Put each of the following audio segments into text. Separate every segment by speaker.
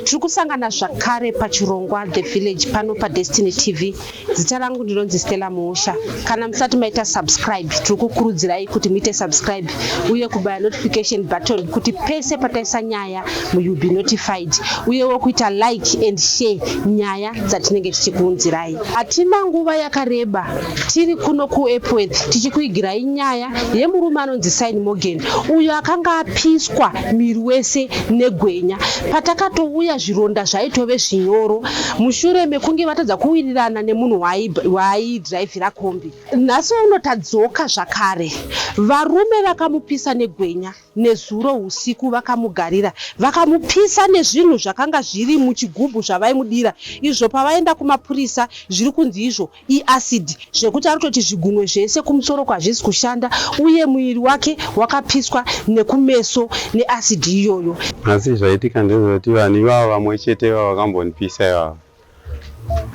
Speaker 1: tiri kusangana zvakare pachirongwa the village pano padestiny tv zita rangu ndinonzi stella muusha kana musati maita subscribe tiri kukurudzirai kuti muite subscribe uye kubaya notification button kuti pese pataisa nyaya muyoull be notified uyewo kuita like and share nyaya dzatinenge tichikuunzirai Hatina nguva yakareba tiri kuno kuEpworth tichikuigirai nyaya yemurume anonzi Sign Morgan uyo akanga apiswa miri wese negwenya. Patakatouya zvironda zvaitove zvinyoro mushure mekunge vatadza kuwirirana nemunhu waaidhiraivhira kombi. Nhasi uno tadzoka zvakare, varume vakamupisa negwenya. Nezuro usiku vakamugarira, vakamupisa nezvinhu zvakanga zviri muchigubhu zvavaimudira, izvo pavaenda kumapurisa zviri kunzi izvo iacid zvekuti anototi zvigunwe zvese kumusoro uku hazvisi kushanda uye muviri wake wakapiswa nekumeso neacid iyoyo. Asi zvaitika
Speaker 2: ndezvekuti vanhu ivavo vamwe chete ivavo vakambondipisa ivavo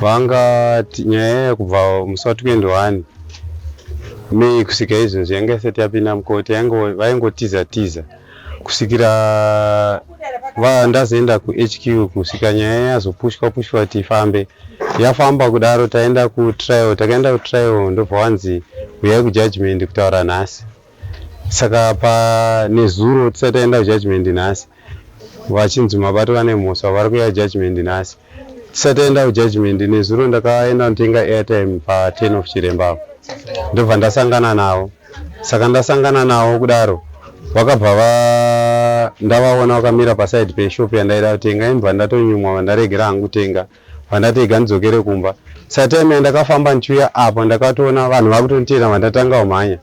Speaker 2: vangati nyaya yaya kubva musi wa 21 may kusvika izvozvi yanga isati yapinda mukoti vaingotiza tiza kusvikira ndazoenda kuhq kusvika nyaya yazopushwa pushwa kuti ifambe yafamba kudaro taenda kutrial takaenda kutrial ndobva wanzi huyai kujudgment kutaura nhasi Saka apa nezuro tisati taenda kujudgment nhasi vachinzi mabato vane mhosva vari kuuya kujudgment nhasi tisati taenda kujudgment nezuro ndakaenda kunotenga airtime pa 10 of chiremba apo ndobva ndasangana navo saka ndasangana navo kudaro vakabva va ndavaona vakamira paside peshop yandaida kutenga imbva ndatonyumwa vandaregera hangu kutenga Pandati rega ndidzokere kumba satime yandakafamba ndichiuya apa ndakatoona vanhu vakutonditeera vandatanga kumhanya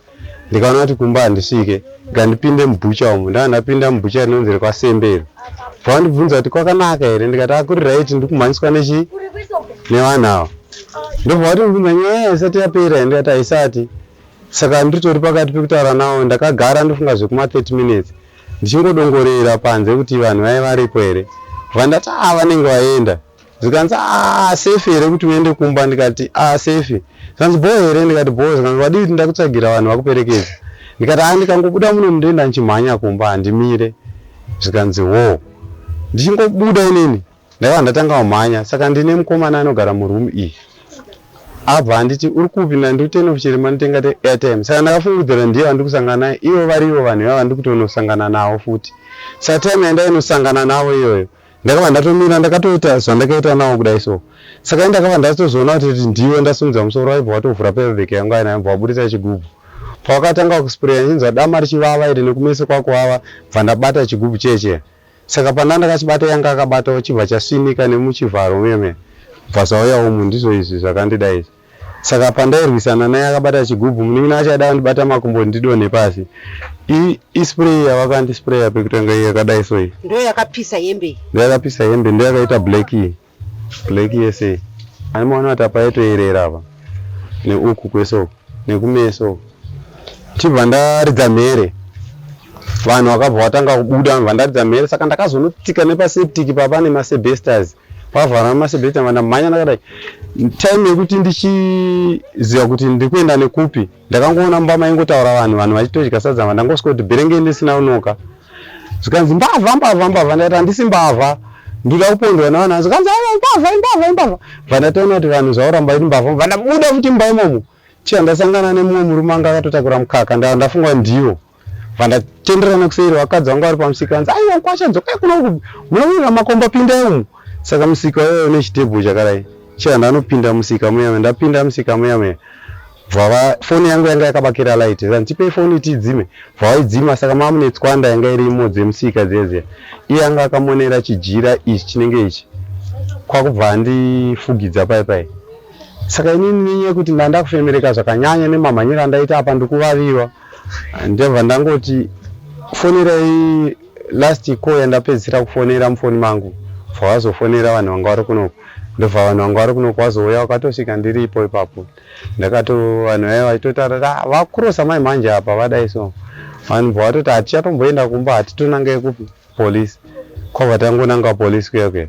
Speaker 2: ndikaona kuti kumba handisvike ngandipinde mubhucha umu ndava ndapinda mubhucha rinonzi rekwasembe iri vakandibvunza kuti kwakanaka here ndikati akuri ah, right ndiri kumhanyiswa nechii nevanhu ava ndobva vatondibvunza nyaya yaisati yapera here ndikati haisati saka ndiritori pakati pekutaura navo ndakagara ndofunga zvekuma 30 minutes ndichingodongorera panze kuti vanhu vaive varipo here kubva ndati aa vanenge vaenda zvikanzi aa safe here kuti uende kumba ndikati aa safe zvikanzi bho here ndikati bho zvikanzi wadii kuti ndakutsvagira vanhu vakuperekedza ndikati aa ndikangobuda muno mundoenda ndichimhanya kumba handimire zvikanzi wo ndichingobuda inini Ndakabva ndatanga kumhanya saka ndine mukomana anogara muroom iyi abva anditi uri kupi ndandiri kutenda kuchirima nditenga airtime saka ndakafungidzira ndiye vandiri kusangana naye ivo vari ivo vanhu ivava ndiri kutonosangana navo futi saka time yandainosangana navo iyoyo ndakabva ndatomira ndakatoita zvandakaita navo kudai so saka ndakabva ndatozoona kuti ndivo ndasimudza musoro waibva watovhura pevheke yangu aina ibva waburitsa chigubhu pawakatanga kuspreya ndinzwa dama richivava iri nekumeso kwakuvava bva ndabata chigubhu cheche Saka panda ndakachibata yanga akabatawo chibva chasinika nemuchivharo meme kubva zvauya umu ndizvo izvi zvakandida izvi. Saka pandairwisana naye akabata chigubhu munin'ina wacho aida kundibata makumbo ndidonhe pasi. I, i spray yavakandisprayer pekutanga iyi yakadai so iyi. Ndoyakapisa hembe iyi. Ndoyakapisa hembe ndoyakaita black iyi. Black yese iyi. Ani maona kuti apa yaitoerera apa. Neuku kwese uku. Nekumeso uku. Ndichibva ndaridza mhere. Vanhu vakabva vatanga kubuda vanhu vandaridza mhere saka ndakazonotika nepaseptic papa nemasebesters. Pavhara nemasebesters ndamhanya ndakadai. Time yekuti ndichiziva kuti ndiri kuenda nekupi. Ndakangoona mumba maingotaura vanhu vanhu vachitodya sadza mva ndangosvika kuti berengei ndisina kunoka zvikanzi mbavha mbavha mbavha ndati handisi mbavha ndoda kupondwa nevana zvikanzi aiwa imbavha imbavha imbavha bva ndatoona kuti vanhu zvauramba iri mbavha bva ndabuda futi mumba imomo chiya ndasangana nemumwe murume anga akatotakura mukaka ndafunga ndiwo Vandatenderana kuseri vakadzi vangu vari pamusika vanzi aiwa nkwasha dzokai kuno uku munovirira makomba pindai umu saka musika uyoyo une chitebho chakadai chero ndanopinda musika muya ndapinda musika muya muya bvava foni yangu yanga yakabakira light zandipei foni tidzime bvavaidzima saka mama mune tswanda yanga irimo dzemusika dzeziya iye anga akamonera chijira ichi chinenge ichi kwakubva andifugidza pai pai saka inini nenyaya yekuti ndandakufemereka zvakanyanya nemamhanyiro andaita apa ndikuvaviwa Ndabva ndangoti fonerai last call yandapedzisira kufonera mufoni mangu bva vazofonera vanhu vanga vari kunoku ndobva vanhu vanga vari kunoku vazouya vakatosvika ndiripo ipapo ndakato vanhu vaya vaitotara ah, vakurosa mai mhanje apa vadai so vanhu bva vatoti hatichatomboenda kumba hatitonange kupi police kwabva tangonanga police kuya kuya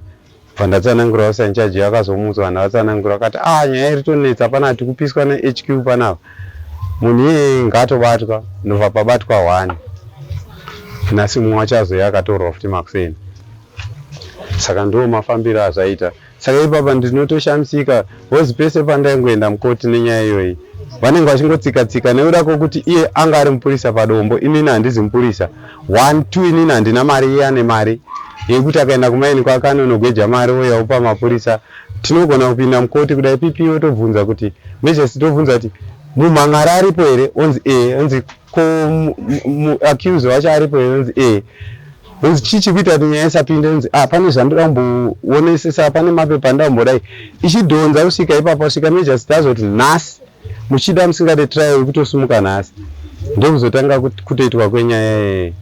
Speaker 2: Pandatsanangura usa in charge akazomuudza vanhu vatsanangura akati ah nyaya iri tonetsa pana tikupiswa ne HQ panapa munhu iyeye ngaatobatwa ndobva pabatwa one nhasi mumwe wacho azoya akatorwa futi makuseni saka ndiwo mafambiro azvaita saka ipapa ndinotoshamisika Coz pese pandaingoenda mukoti nenyaya iyoyi vanenge vachingotsika tsika nekuda kwekuti iye anga ari mupurisa padombo inini handizi mupurisa one two inini handina mari iye ane mari yekuti akaenda kumaini kwake anonogweja mari oya opa mapurisa tinogona kupinda mukoti kuda ipipi otobvunza kuti mejasi tobvunza kuti mumhan'ara aripo here onzi e onzi ko accuse wacho aripo inonzi e inzi chii chikuita kuti nyaya isapinde inzi a ah, pane zvandida kumboonesesa pane mapepa andida kumbodai ichidhonza kusvika ipapa kusvika majorst azoti nhasi muchida musingade trial ikutosimuka nhasi ndokuzotanga kutoitwa kwenyaya yeye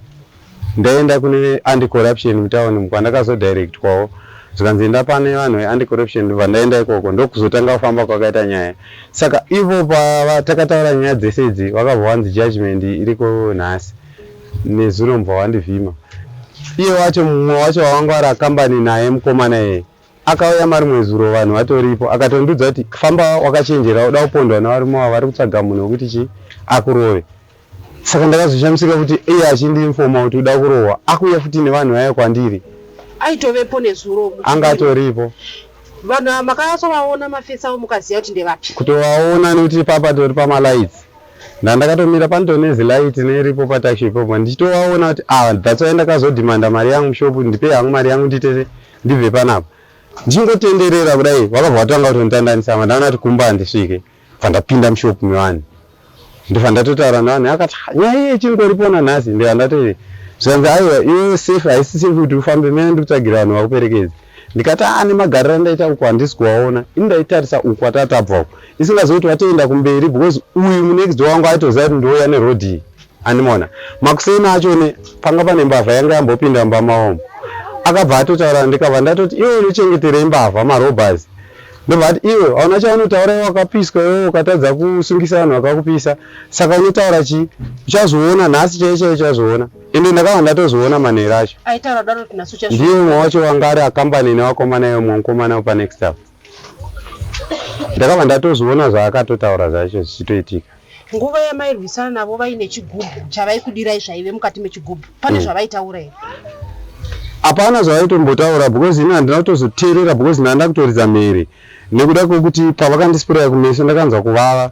Speaker 2: Ndaenda kune anti corruption mutown kwandakazo directwawo zvikanzi enda pane vanhu ve anti corruption ndobva ndaenda ikoko ndokuzotanga kufamba kwakaita nyaya saka ivo patakataura nyaya dzese idzi vakabva vanzi judgement iriko nhasi nezuro mubva vandivhima iye wacho mumwe wacho wavangwara kambani naye mukomana iyeye Akauya marimwezuro vanhu vatoripo akatondiudza kuti famba wakachenjera uda kupondwa nevarume ava vari kutsvaga munhu wekuti chii akurove. Saka ndakazoshamisika kuti iye achindiinfoma kuti uda kurohwa akuuya futi nevanhu vaya kwandiri. Aitovepo
Speaker 1: nezuro uku. Anga atoripo.
Speaker 2: Vanhu ava
Speaker 1: makasovaona mafesi avo mukaziva kuti ndevapi? Kutovaona nekuti
Speaker 2: papa tori pamalights ndandakatomira pantonezi light neripo pataxi ipopo ndichitovaona kuti ah that's why ndakazodimanda mari yangu mushop ndipei hangu mari yangu ndiite ndibve panapa ndichingotenderera kudai vakabva vatanga kutonditandanisa apa ndaona kuti kumba handisvike bva ndapinda mushop mevanhu ndibva ndatotaura nevanhu akati nyaya iye ichingooripona nhasi ndibva ndatoti zvikanzi aiwa iwe safe haisi safe kuti ufambe mene ndikutsvagira vanhu vakuperekedzi ndikati aa nemagariro andaita uku handisi kuvaona ini ndaitarisa uku atatabva uku isingazivi kuti vatoenda kumberi because uyu munext wangu aitoziva kuti ndouya nerodii Andimona makuseni acho ne panga pane mbavha yanga yambopinda mumba maomo akabva atotaura ndikabva ndatoti iwe unochengeterei mbavha marobhers ndobva ati iwe hauna chaunotaura iwe wakapiswa iwe ukatadza kusungisa vanhu vakakupisa saka unotaura chii uchazoona nhasi chaiye chaiye uchazoona ende ndakava ndatozoona manhero acho
Speaker 1: ndiye umwe wacho wanga ari
Speaker 2: akambani nevakomana iwe mwe mukomana wepanext apo ndakabva ndatozviona zvaakatotaura zvacho zvichitoitika nguva
Speaker 1: yamairwisana navo vaine chigubhu chavaikudirai zvaive mukati mechigubhu pane hmm. zvavaitaura here
Speaker 2: hapana zvavaitombotaura because ini handina kutozoteerera because ndanda kutoridza mhere nekuda kwekuti pavakandisipuraya kumeso ndakanzwa kuvava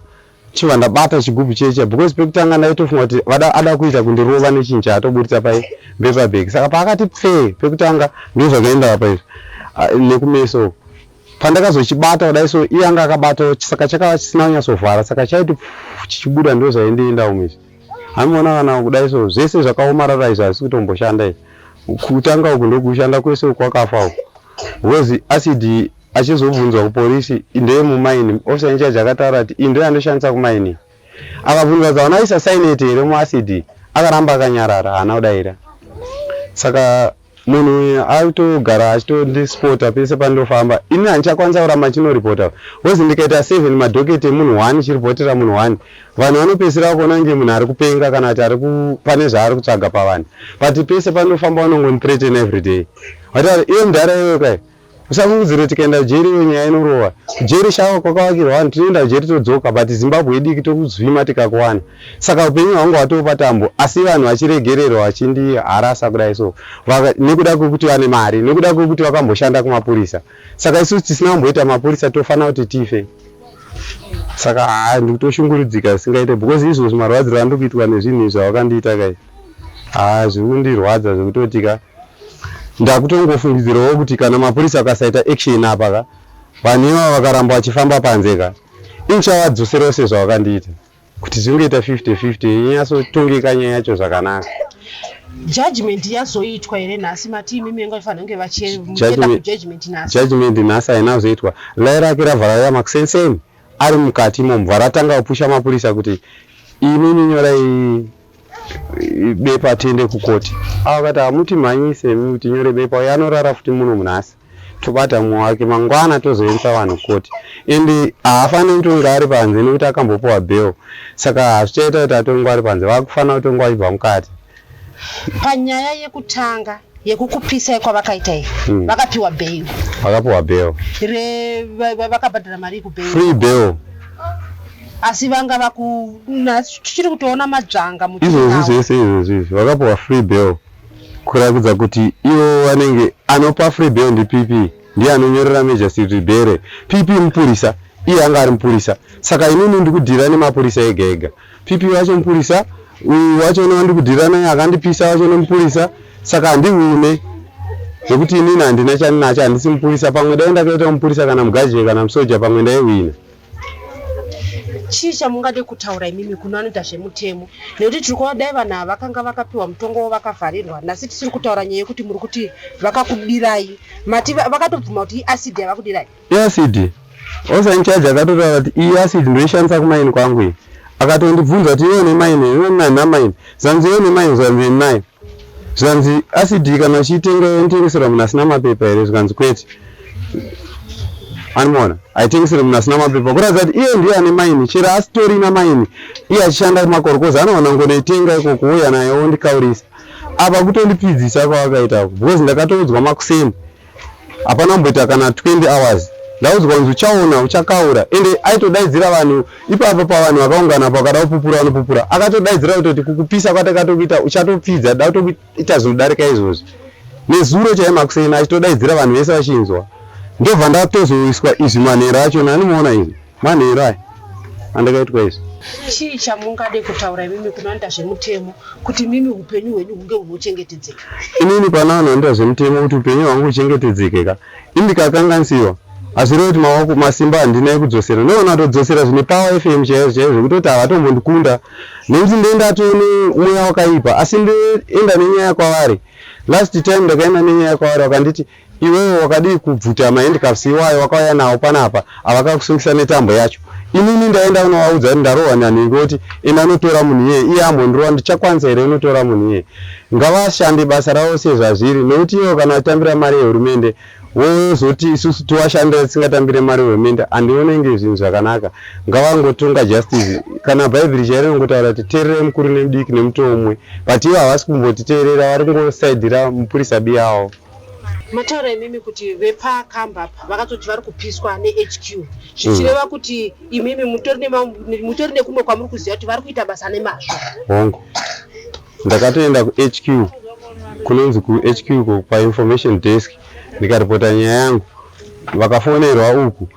Speaker 2: Chiva ndabata chigubhu checha because pekutanga ndaitofunga kuti vada ada kuita kundirova nechinhu chaatoburitsa pai paper bag saka paakati pfee pekutanga ndozvakaenda apa izvi ah, nekumeso pandakazochibata kudai so iye anga akabatawo saka chakava chisina kunyatsovhara saka chaiti chichibuda ndozvaindienda umwe izvi hamiona kana kudai so zvese zvakaomarara izvi hazisi kutomboshanda izvi kutanga uku ndokushanda kwese uku kwakafa uku Because acid achizobvunzwa kupolice ndeye mumining officer in charge akataura kuti iyi ndoyanoshandisa kumining akabvunzwa kuti hauna kuisa cyanate here muacid akaramba akanyarara haana kudaira saka munhu uyu akutogara achitondisipota pese pandofamba ini handichakwanisa kuramba chinoripota bcause ndikaita seven madhoketi emunhu one chiripotera munhu one vanhu vanopedzisira kuona kunge munhu ari kupenga kana kuti ari pane zvaari kutsvaga pavanhu but pese pandofamba vanongondipretena everyday Hatari iwe mdhara iwe kai. Usamuudzire tikaenda jeri iwe nyaya inorova. Jeri shawa kwakavakirwa vanhu tinoenda jeri todzoka but Zimbabwe idiki tokuzvima tikakuwana. Saka upenyu hwangu hwatopa tambo asi vanhu vachiregererwa vachindi harasa kudai so. Vaka, nekuda kwekuti vane mari, nekuda kwekuti vakamboshanda kumapurisa. Saka isu tisina kumboita mapurisa tofana kuti tife. Saka haa ndikutoshungurudzika singaite because izvozvo marwadziro andikuitwa nezvinhu izvo vakandiita kai. Haa zvikundirwadza zvekutotika. Ndakutongofungidzirawo kuti kana mapurisa akasaita action apa ka vanhu ivava vakaramba vachifamba panze ka inichavadzoserawo sezvavakandiita kuti zvingoita 50-50 inyasotongeka nyaya yacho zvakanaka judgment
Speaker 1: yazoitwa here nhasi mati imi menga ifanira kunge vachijudgment nhasi judgment nhasi haina kuzoitwa
Speaker 2: lai rake ravhararira makusenseni ari mukati imomo varatanga kupusha mapurisa kuti imimi nyorai bepa tiende kukoti ava kati hamuti mhanyei semi kuti nyore bepa uye anorara futi muno munhasi tobata mumwe wake mangwana tozoendesa vanhu koti ende haafaniri kutonga ari panze nekuti akambopiwa bel saka hazvichaita kuti atongwa ari panze vakufanira kutongwa vachibva mukati panyaya
Speaker 1: yekutanga yekukupisa yekwavakaita iyi hmm. vakapiwa bel vakapiwa bel vakabhadhara mari yekubel free bel asi vanga vaku
Speaker 2: tichiri kutoona madzvanga izvozvi zvese
Speaker 1: izvozvi
Speaker 2: izvi vakapuwa free
Speaker 1: bell
Speaker 2: kurakidza kuti ivo vanenge anopa free bell ndi pp ndiye anonyorera majasiti bere pp mupurisa iye anga ari mupurisa saka inini ndikudhira nemapurisa ega ega pp vacho mupurisa uyu wacho newandikudhira naye akandipisa wacho nemupurisa saka handihune zvekuti inini handina chandinacho handisi mupurisa pamwe dai ndakaita mupurisa kana mugazhie kana musoja pamwe ndaiwina
Speaker 1: Chii chamungade kutaura imimi kuno anoita zvemutemo nekuti tiri kuona dai vanhu ava vakanga vakapiwa mutongo wavo vakavharirwa nhasi tisiri kutaura nyaya yekuti muri kuti vakakudirai mati vakatobvuma kuti iacid yavakudirai iacid
Speaker 2: also in charge akatotaura kuti iyi acid ndoishandisa kumaini kwangu iyi akatondibvunza kuti iwe nemaini ine nanhamaini zvanzi iwe nemaini zvanzi nayo Zvikanzi acid kana uchiitenga yonotengeserwa munhu asina mapepa here zvikanzi kwete animoona haitengesere munhu asina mapepa kuratidza kuti iye ndiye ane maini chero asitorina maini iye achishanda kumakoro kozi anoona ngonoitenga iko kuuya naye ondikaurisa apa kutondipfidzisa kwavakaita because ndakatoudzwa makuseni hapana kumboita kana 20 hours ndaudzwa kunzi uchaona uchakaura ende aitodaidzira vanhu ipapo pavanhu vakaungana pakada kupupura vanopupura akatodaidzira kutoti kukupisa kwatakatokuita uchatopfidza da kutoita zvinodarika izvozvi nezuro chaiye makuseni achitodaidzira vanhu vese vachinzwa ndobva ndatozoiswa izvi manhero acho nanimuona izvi manhero aya andakaitwa izvi chii chamungade
Speaker 1: kutaura imimi kunoanda zvemutemo kuti mimi upenyu hwenyu hunge hunochengetedzeka inini pana
Speaker 2: vanhu vanoita zvemutemo kuti upenyu hwangu uchengetedzeke ka indikakanganisiwa hazvireva kuti mawako masimba handina ekudzosera ndoona atodzosera zvine power fm chaizvo chaizvo zvekutoti havatombondikunda nekuti ndendatoone mweya wakaipa asi ndoenda nenyaya kwavari last time ndakaenda nenyaya kwavari vakanditi Iwewe wakadii kubvuta mahandcuffs iwayo wakauya nawo panapa avakakusungisa netambo yacho. Inini ndaenda kunovaudza kuti ndarohwa nanhingi oti enda unotora munhu iyeye iye ambondirova ndichakwanisa here kunotora munhu iyeye. Ngavashande basa ravo sezvazviri nekuti ivo kana vachitambira mari yehurumende vozoti isusu tovashandira tisingatambire mari yehurumende handione inge zvinhu zvakanaka. Ngavangotonga justice. Kana bhaibheri chairo rinongotaura kuti teererai mukuru nemudiki nemutoo umwe but ivo havasi kumbotiteerera vari kungosaidhira mupurisa biyawo. Mataura
Speaker 1: imimi kuti vepakamba apa vakatoti vari kupiswa nehq zvichireva mm. kuti imimi mutori nekumwe kwamuri kuziva kuti vari kuita basa nemazvo hongu
Speaker 2: ndakatoenda kuhq kunonzi kuhq kwainformation desk ndikaripota nyaya yangu vakafonerwa uku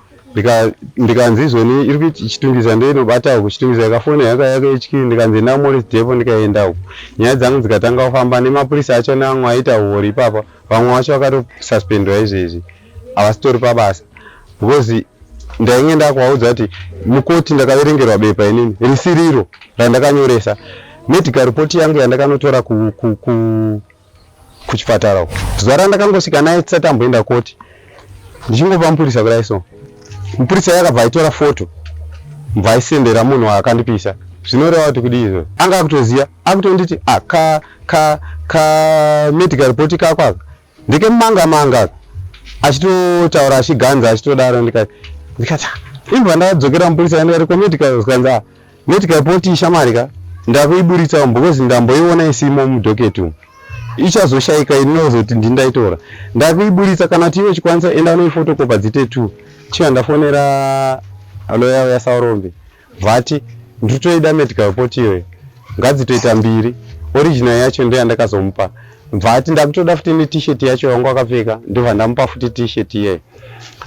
Speaker 2: ndikanzi izvoni iri kuiti ichitungisa ndoinobata uku chitungisa yakafona yaka yake ichikiri ndikanzi enda kumorris depo ndikaenda uku nyaya dzangu dzikatanga kufamba nemapurisa acho neamwe aita huori ipapa vamwe vacho vakatosuspendwa izvezvi havasitori pabasa because ndainge ndakuvaudza kuti mukoti ndakaverengerwa bepa inini risiriro randakanyoresa medical report yangu yandakanotora ku, ku, ku kuchipatara uko zuva randakangosvika naye tisati amboenda koti ndichingopa mupurisa kudai so mupurisa iye akabva aitora foto mva aisendera munhu waakandipisa zvinoreva kuti kudii izvozvo anga akutoziva akutonditi ah, ka ka ka medical report kako aka ndekemanga manga aka achitotaura achiganza achitodaro ndikati ndikati ah, imbwa ndakadzokera mupurisa ndikati komedical zvikanzi ah, Medical pot ishamwari ka ndakuiburitsa umu because ndamboiona isimo mudocket umu ichazoshaika ini nozoti ndini ndaitora ndakuiburitsa kana kuti iwe chikwanisa enda unoifotokopa dzite two chiya ndafonera loya uya saurombe vati ndiri toida medical pot iyoyo ngadzitoita mbiri original yacho ndo yandakazomupa bvati ndakutoda futi netishet yacho yangu akapfeka ndobva ndamupa futi tishet iyeyo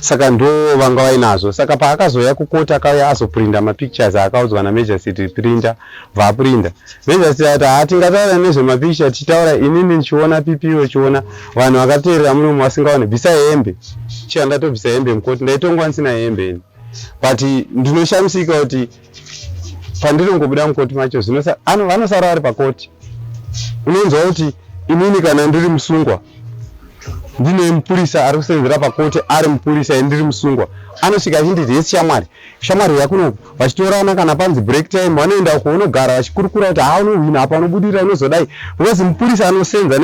Speaker 2: saka ndo vanga vainazvo saka paakazouya kukoti akauya azoprinda mapictures aakaudzwa namejasiti prinda vaprinda mejasiti ati haa tingataura nezvemapicture tichitaura inini ndichiona pipi wechiona vanhu vakateerera munomu vasingaone bvisa hembe chiya ndatobvisa hembe mukoti ndaitongwa ndisina hembe ini but ndinoshamisika kuti pandinongobuda mukoti macho zvino vanosara vari pakoti unonzwa kuti inini kana ndiri musungwa ndine mupurisa ari kusenzera pakoti ari mupurisa endiri musungwa anosvika achinditi hesi shamwari shamwari yakunoku vachitorana kana panzi break time vanoenda uko unogara vachikurukura kuti haa unohwina apa unobudirira unozodai because mupurisa anosenza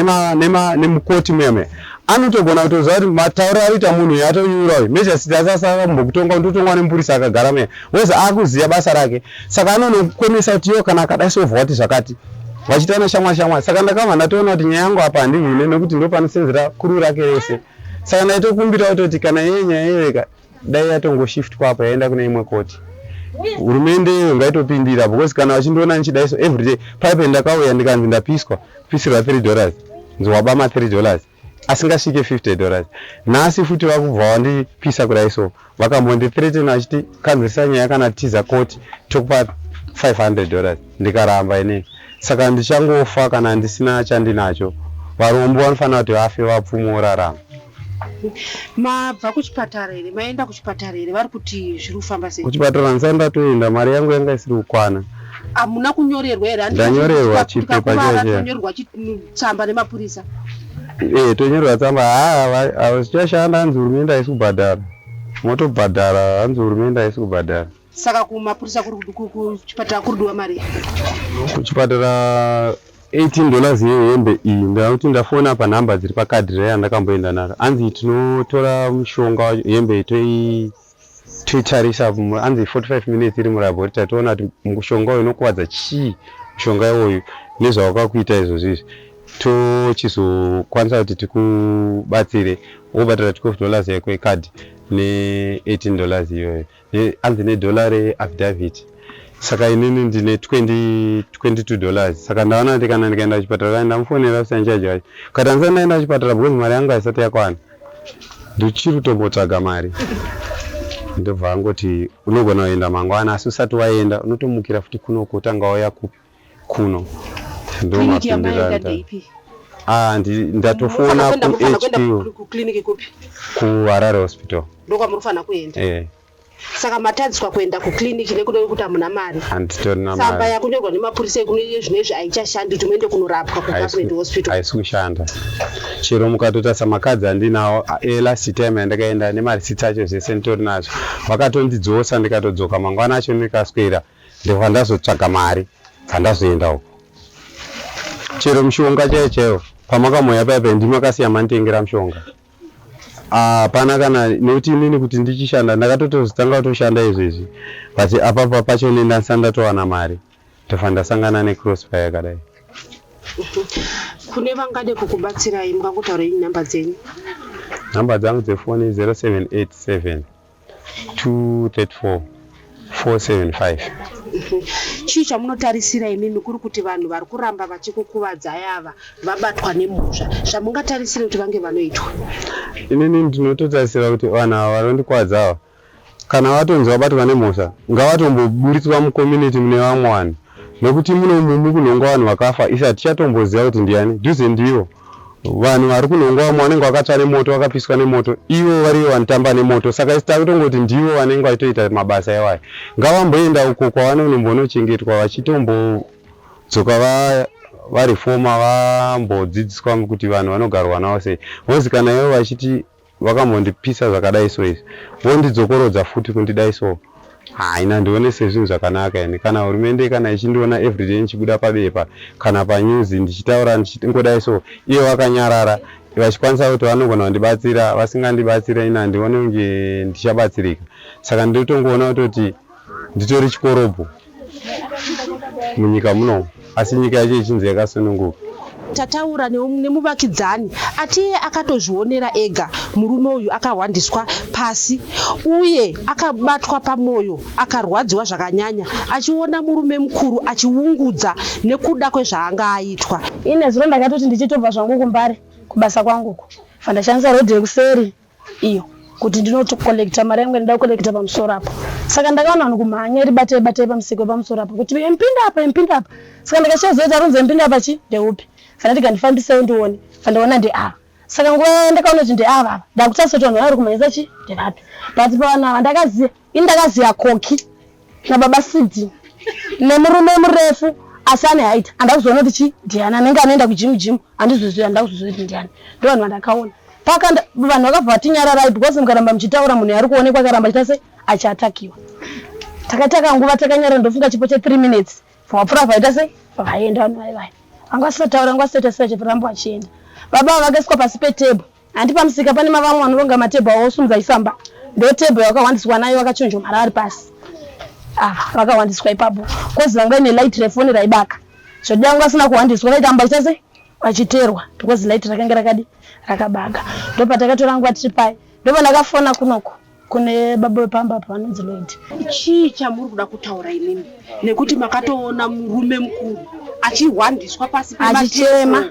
Speaker 2: nemukoti muya muya anotogona kutoziva kuti matauriro aroita munhu uyo atonyura uyu mejasiti asasava mumbokutonga ndotongwa nemupurisa akagara muya Weza akuziva basa rake saka anonokukonesa kuti yo kana akadai so vhwati zvakati vachita na shamwa shamwa saka ndakabva ndatoona kuti nyaya yangu apa handivhune nekuti ndo panosenzera kuru rake rese saka ndaitokumbira kutoti kana yeye nyaya yeveka dai yatongoshiftwa apa yaenda kune imwe koti hurumende iyo ngaitopindira because kana vachindiona ndichidai so everyday paipe ndakauya ndikanzi ndapiswa pisirwa three dollars nzowaba ma three dollars asingasvike 50 dollars nhasi futi vakubva wandipisa kudai so vakambondi threaten vachiti kanzwisa nyaya kana tiza koti tokupa 500 dollars ndikaramba inei saka ndichangofa kana ndisina chandinacho varombo vanofanira kuti vafe vapfumo vorarama
Speaker 1: mabva kuchipatara here maenda kuchipatara here vari kuti zviri kufamba sei kuchipatara ndisati ndatoenda
Speaker 2: mari yangu yanga isiri kukwana hamuna
Speaker 1: kunyorerwa here ndanyorerwa chipepa
Speaker 2: chatonyorerwa
Speaker 1: tsamba nemapurisa e
Speaker 2: tonyorerwa tsamba haa zvichashanda hanzi hurumende haisi kubhadhara motobhadhara hanzi hurumende haisi kubhadhara saka kumapurisa
Speaker 1: kuchipatara kuridiwa mari kuchipatara 18
Speaker 2: dollars yehembe iyi ndakuti ndafona panhamba dziri pakadhi reya ndakamboenda naro hanzi tinotora mushonga hembe toii Toitarisa hanzi 45 minutes iri mulaboratory toona kuti mushonga uyu unokuvadza chii mushonga iwoyu nezvawakakuita izvozvi izvi tochizokwanisa kuti tikubatsire wobhadhara 12 dollars yako yekadhi ne18 dollars iyoyo hanzi nedollar reaffidavit saka inini ndine 22 dollars saka ndaona kuti kana ndikaenda kuchipatara ndamufonera kusanchaji wacho kati handisati ndaenda kuchipatara because mari yangu haisati yakwana Ndichiri kutombotsvaga mari ndobva angoti unogona kuenda mangwana asi usati waenda unotomukira futi kuno kutanga wauya kupi kuno ndomapindiranda Ah, ndatofona kuhq
Speaker 1: kuharare
Speaker 2: hospital ndokwamuri kufanira
Speaker 1: kuenda eh. saka matadziswa kuenda kuclinic nekuda kwekuti hamuna mari samba
Speaker 2: yakunyorwa nemapurisa
Speaker 1: ekunoie zvino izvi haichashandi kuti muende kunorapwa kugovernment hospital haisi kushanda
Speaker 2: chero mukatoita samakadzi andinawo elast eh, time yandakaenda nemarisiti acho zvese nditori nazvo vakatondidzosa ndikatodzoka mangwana acho ndikaswera ndikwa ndazotsvaga mari handazoenda uko chero mushonga chaiyo chaiyo pamakamoya paipa ndimakasiya manditengera mushonga hapana ah, kana nekuti inini kuti ndichishanda ndakatotozitanga kutoshanda izvo izvi but apapa pacho ne ndasa ndatowana mari ndofa ndasangana necrossfire yakadai
Speaker 1: kune vangade kukubatsirai mungangotaurei nhamba dzenyu nhamba
Speaker 2: dzangu dzefoni 0787 234
Speaker 1: chii chamunotarisira imimi kuri kuti vanhu vari kuramba vachikukuvadzai ava vabatwa nemhosva zvamungatarisire kuti vange vanoitwa inini
Speaker 2: ndinototarisira kuti vanhu ava vanondikwadza ava kana vatonzi vabatwa nemhosva ngavatomboburitswa mucommunity mune vamwe vanhu Nekuti muno umu mukunhongwa vanhu vakafa isu hatichatomboziva kuti ndiani dhuze ndivo vanhu vari kunhongwa vamwe vanenge vakatsva nemoto vakapiswa nemoto ivo varivo vanotamba nemoto saka isi takutongoti ndivo vanenge vachitoita mabasa iwayo ngavamboenda uko kwavanonombonochengetwa vachitombodzoka va varifoma vambodzidziswa kuti vanhu vanogarwa navo sei vozi kana ivo vachiti vakambondipisa zvakadai so izvi vondidzokorodza futi kundidai so haina ndione sezvinhu zvakanaka ini kana hurumende kana ichindiona everyday ndichibuda pabepa kana panews ndichitaura ndichingodai so iye vakanyarara vachikwanisa kuti vanogona kundibatsira vasingandibatsira ini handione kunge ndichabatsirika saka ndinotongoona kutoti nditori chikorobho munyika muno asi nyika yacho ichinzi yakasununguka tataura
Speaker 1: nemuvakidzani atiye akatozvionera ega murume uyu akahwandiswa pasi uye akabatwa pamwoyo akarwadziwa zvakanyanya achiona murume mukuru achiungudza nekuda kwezvaanga aitwa ine zuro ndakatoti
Speaker 3: ndichitobva zvangu kumbare kubasa kwanguko fandashandisa rodhi yekuseri iyo kuti ndinotocollecta mari yangu ndida kucollecta pamusoro apo saka ndakaona vanhu kumhanya iri batai batai pamusiko pamusoro apo kuti empinda apa empinda apa saka ndikachiazoita ronzi empinda apa chi ndeupi kana tikandifambisai ndione vandiona ndeava saka nguva yaya ndakaona kuti ndeava ava ndakutasa kuti vanhu vaya vari kumhanyisa chi ndevapi but pavanhu ava ndakaziva Indakaziva Koki nababa Sidi nemurume murefu asi ane height andakuzoona kuti chi ndiani anenge anoenda kujimu jimu handizozvizivi handakuzvizivi kuti ndiani ndo vanhu vandakaona paka vanhu vakabva vatinyararai because mukaramba muchitaura munhu yaari kuonekwa akaramba chita se achiatakiwa takataka nguva takanyara ndofunga chipo che three minutes vapfura vaita se vaenda vanhu vaivaya vanga vasisataura vanga vasitaita se vachiramba vachienda baba vakaiswa pasi petable Hanti pamusika pane mavamwe vanoronga matebho awo osumudza achifamba ndotebho yawakahwandiswa nayo vakachonjomara vari pasi ah, vakahwandiswa ipapo kozi vanga ine light refoni raibaka zvodi yangu asina kuhwandiswa vaitamba ita sei vachiterwa because light rakange rakadi rakabaka ndopatakatora nguva tiri paye ndopandakafona kunoko kune baba vepamba apa vanonzi lord chii chamuri
Speaker 1: kuda kutaura inini nekuti makatoona murume mukuru
Speaker 3: achihwandiswa
Speaker 1: pasi achichema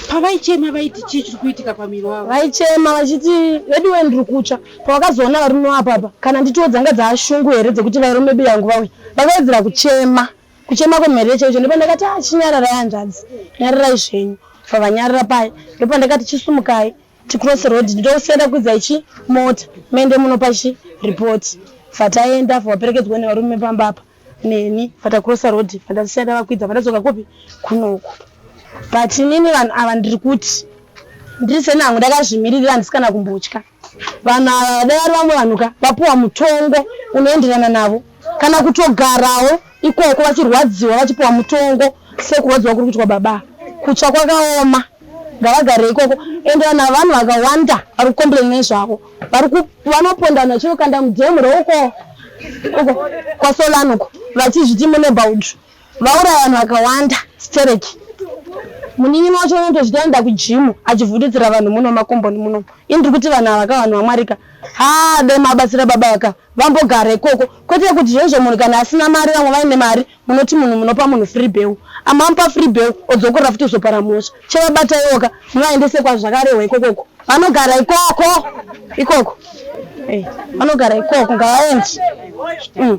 Speaker 1: pavaichema vaiti chii chiri kuitika pamiri wavo vaichema vachiti
Speaker 3: veduwe ndiri kutsva pavakazoona varume wapa apa kana nditiwo dzanga dzaashungu here dzekuti vairume biya yangu vauya vakawedzera kuchema kuchema kwemhere chaicho ndopandakati achinyararai ah, hanzvadzi nyararai zvenyu pavanyarira paye ndopandakati chisumukai Cross road ndosiyana kwidza ichi mota mende munopa chi report fataenda fawaperekedzwa nevarume pamba apa neni fata cross road fandasiyana vakwidza fandadzoka kupi kunoku but inini vanhu ava ndiri kuti ndiri seni hangu ndakazvimiririra handisi kana kumbotya vanhu ava vadai vari vamwe vanhu ka vapiwa mutongo unoenderana navo kana kutogarawo ikoko vachirwadziwa vachipiwa mutongo sekurwadziwa kuri kuitwa baba kutsva kwakaoma ngavagare ikoko ende vanhu vanhu vakawanda vari kukomplain nezvavo vanopondana vachinokanda mudhemu reukoo uko kwasolanoko vachizviti munebaud Vauraya vanhu vakawanda stereki. Munin'ina wacho unotozviti anoenda kujimu achivhundutsira vanhu muno makomboni muno. Ini ndiri kuti vanhu ava ka vanhu vaMwari ka haa dai mabatsira baba ava ka vambogara ikoko kwete kuti zvoizvo munhu kana asina mari vamwe vaine mari munoti munhu munopa munhu free beu amamupa free beu odzokorera futi kuzopara mhosva chevabataiwo ka muvaendese kwazvakarehwa ikokoko vanogara ikoko ikoko eh, vanogara ikoko ngavaendi mm.